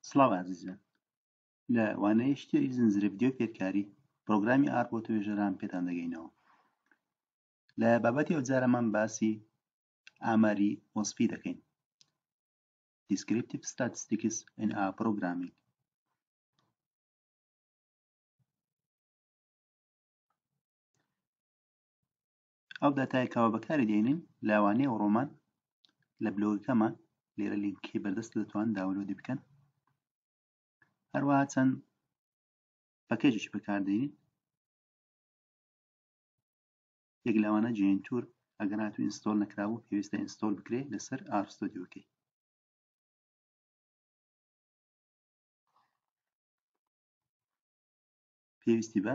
سڵاو ئازیزان لە وانەیە شتێری زنجرە ڤیددیو فێرکاری پرۆگرامی ئار بۆ توێژەران پێتان دەگەینەوە لە بابەتی ئەوجارەمان باسی ئاماری وەسفی دەکەین Descriptive Statistics in A Programming ئەو داتای کەوا بەکاری دێنین لاوانەیە و ڕۆمان لە بلۆگەکەمان لێرە لینکی بەردەست دەتوان داولۆدی بکەن هەروەها چەند پەکەجێکی بەکاردێنین یەک لەوانە جێن تور ئەگەر هاتو ئینستۆل نەکراوە پێویستە ئینستۆل بکرێ لەسەر ئارستۆدیوکەی پێویستی بە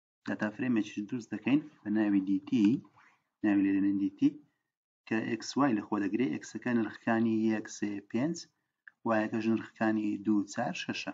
داتا فرێمێکیش دروست دەکەین بە ناوی دیتی ناوی لێرێنین دیتی کە ئکس وای لەخۆ دەگرێ ئکسەکە نرخەکانی یەک سێ پێنج وایەکەش نرخەکانی دوو چار شەشە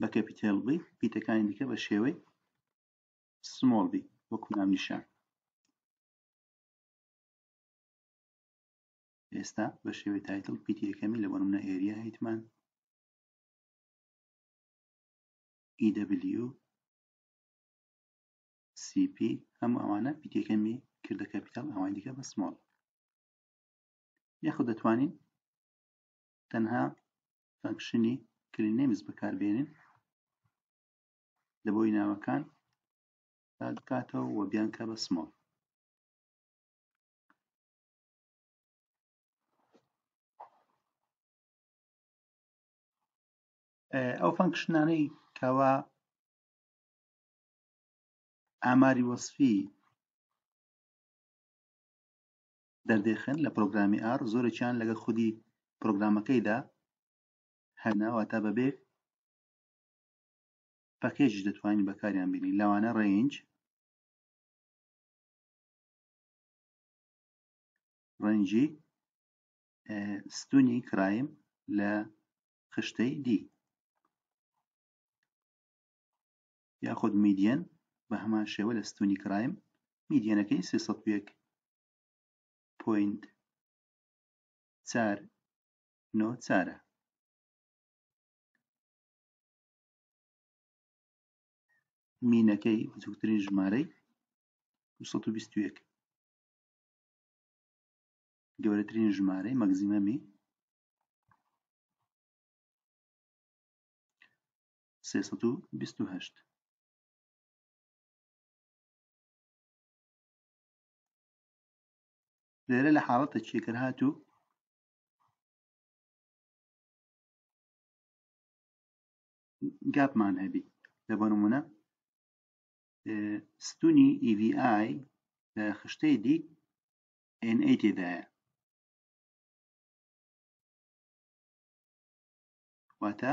بە کەپیتێل بی پیتەکانی دیکە بە شێوەی سمۆڵ بی وەکو نام نیشان ئێستا بە شێوەی تایتل پیتی یەکەمی لە بەرمنە ئێریا هیتمان EW CP هەموو ئەوانە پیتەکەمی کردە کەپیتال ئەوان دیکە بە سمۆڵ یاخود دەتوانین تەنها فەنکشنی کلی نەیمز بەکاربێنین لە بۆی ناوەکان بکاتەوە و بیانکە بە سمۆڵ ئەو فەنکشنانەی کەوا ئاماری وەصفی دەردێخن لە پرۆگرامی ئاڕ زۆرێکیان لەگەڵ خودی پرۆگرامەکەیدا هەنە واتا بەبێ پەکێجش دەتوانین بەکاریان بینین لەوانە ڕێنج ڕەنجی ستونی کرایم لە خشتەی دی یاخود میدیەن بە هەمان شێوە لە ستونی کرایم میدیەنەکەی 301 پۆینت چار نۆ چارە مینەکەی بچووکترین ژمارەی 221 گەورەترین ژمارەی مەگزیمەمی سێسەد و بیست و هەشت لێرە لە حاڵەتە چیکرد هاتوو گاپمان هەبی لە بۆ نمونە ستونی ئیVI لە خشتەی دی NA تێدایە واتە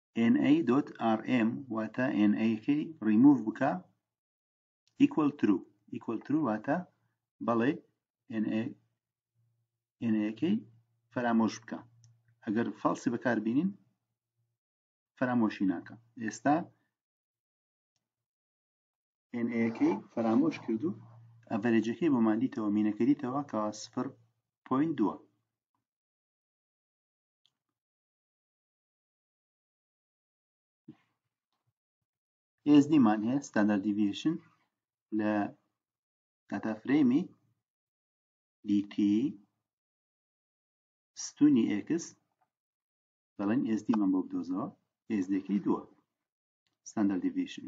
na.rm واتە na کەی ڕیموڤ بکە equal true equal true واتە بەڵێ na na کەی فەرامۆش بکە ئەگەر فەڵسی بەکار بینین فەرامۆشی ناکە ئێستا na کەی فەرامۆش کرد و ئەڤەرێجەکەی بۆمان دیتەوە مینەکە دیتەوە کە سفر پوین دووە SD مان هەیە ستاندارد دیڤیشن لە داتا فرەیمی DT ستونی X دەڵێن SD مان بۆ بدۆزەوە SD کی دووە ستاندارد دیڤیشن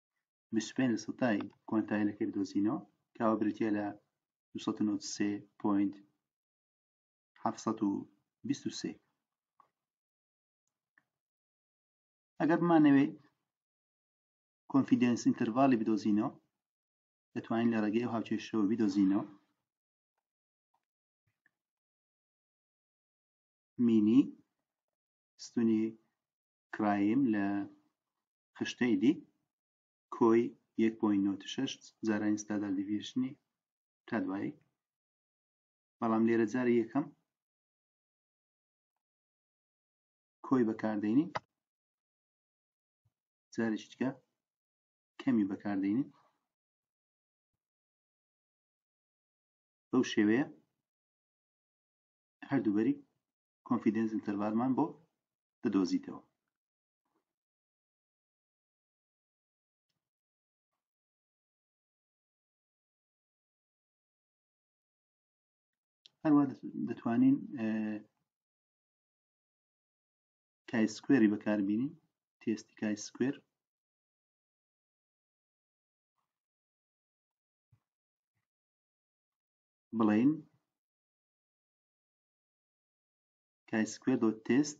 25 سەتای کۆنتای لەکەی بدۆزینەوە کەوا بریتە لە 293.723 ئەگەر بمانەوێ کۆنفیدنس ئینتەرڤالی بدۆزینەوە دەتوانین لە ڕێگەی ئەو هاوچێشەوە بدۆزینەوە مینی ستونی کرایم لە خشتەی دی کۆی یەک پۆین نۆتی شەشت جارانی ستادار دیڤیشنی تا دوایی بەڵام لێرە جاری یەکەم کۆی بەکاردێنین جارێکی دیکە کەمی بەکاردێنین بەو شێوەیە هەردووبەری کۆنفیدنس ئینتەرڤالمان بۆ دەدۆزیتەوە هەروە دەتوانین کای سکوێری بەکاربینین تێستی کای سکوێر بڵین کای سکوێر دۆ تێست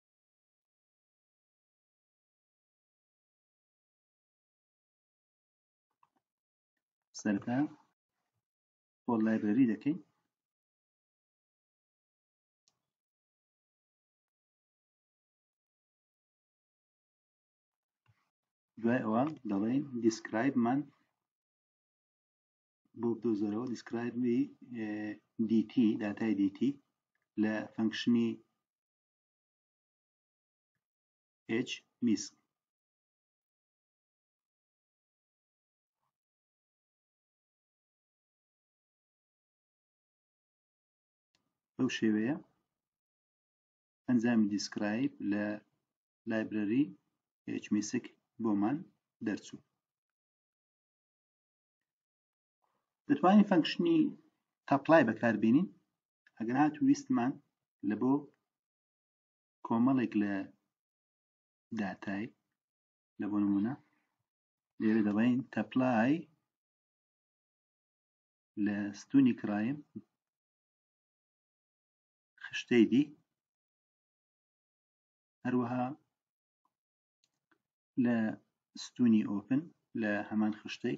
سەرەتا بۆ لایبرری دەکەین دوای ئەوە دەڵێن دیسکرایبمان بۆ بدۆزەرەوە دیسکرایبی دیتی داتای دیتی لە فەنکشنی هێچ میسک بەو شێوەیە ئەنجامی دیسکرایب لە لایبرەری هێچ میسک بۆمان دەرچوو دەتوانین فەنکشنی تاپلای بەکاربێنین ئەگەر هات ویستمان لە بۆ کۆمەڵێک لە داتای لە بۆ نمونە لێرە دەڵێن تەپلای لە ستونی کرایم خشتەی دی هەروەها لە ستونی ئۆپن لە هەمان خشتەی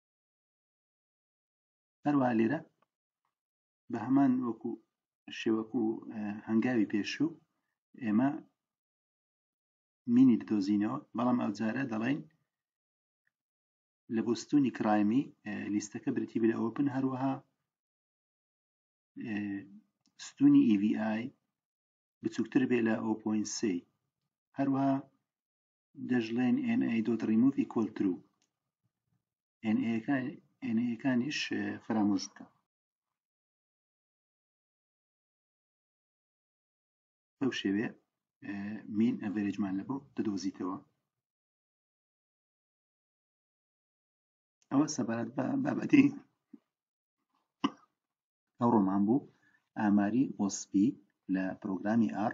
هەروە لێرە بە هەمان وەکو شێوەکو و هەنگاوی پێشوو ئێمە مینی بدۆزینەوە بەڵام ئەوجارە دەڵێن لە بستونی کرایمی لیستەکە برتی بلە ئۆپن هەروەها ستونی EVI بچووکتر بێ لە ئۆپۆین سی هەروەها دەشڵێن NA.remove equal true NA یەکانیش فەرامۆش بکە بەو شێوێ مین ئەڤێرێجمان لە بۆ دەدۆزیتەوە ئەوە سەبارەت بە بابەتی ئەو ڕۆمان بوو ئاماری وەسپی لە پرۆگرامی ئار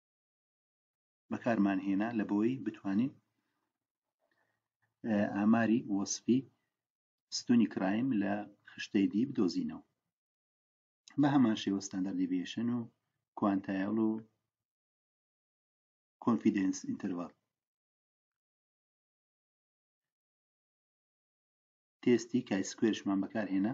بەکارمان هێنا لە بۆی بتوانین ئاماری وەسفی ستونی کرایم لە خشتەی دی بدۆزینەوە بە هەمان شێوە ستاندەر دیڤشن و کوانتایل و کۆنفیدنس ئینتەرڤال تێستی کای سکوێرشمان بەکارهێنا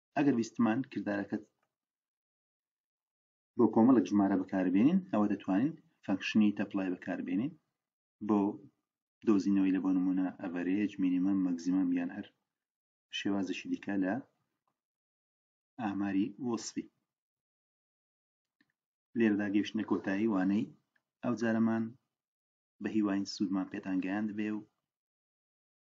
ئەگەر ویستمان کردارەکەت بۆ کۆمەڵک ژمارە بەکاربێنین ئەوە دەتوانین فەنکشنی تەپلای بەکاربێنین بۆ دۆزینەوەی لە بۆ نمونە ئەڤەرێج مینیمەم مەگزیمەم یان هەر شێوازشی دیکە لە ئاماری وەسفی لێرەدا گەشتنە کۆتایی وانەی ئەو جارەمان بە هیواین سوودمان پێتان گەیاند بێ و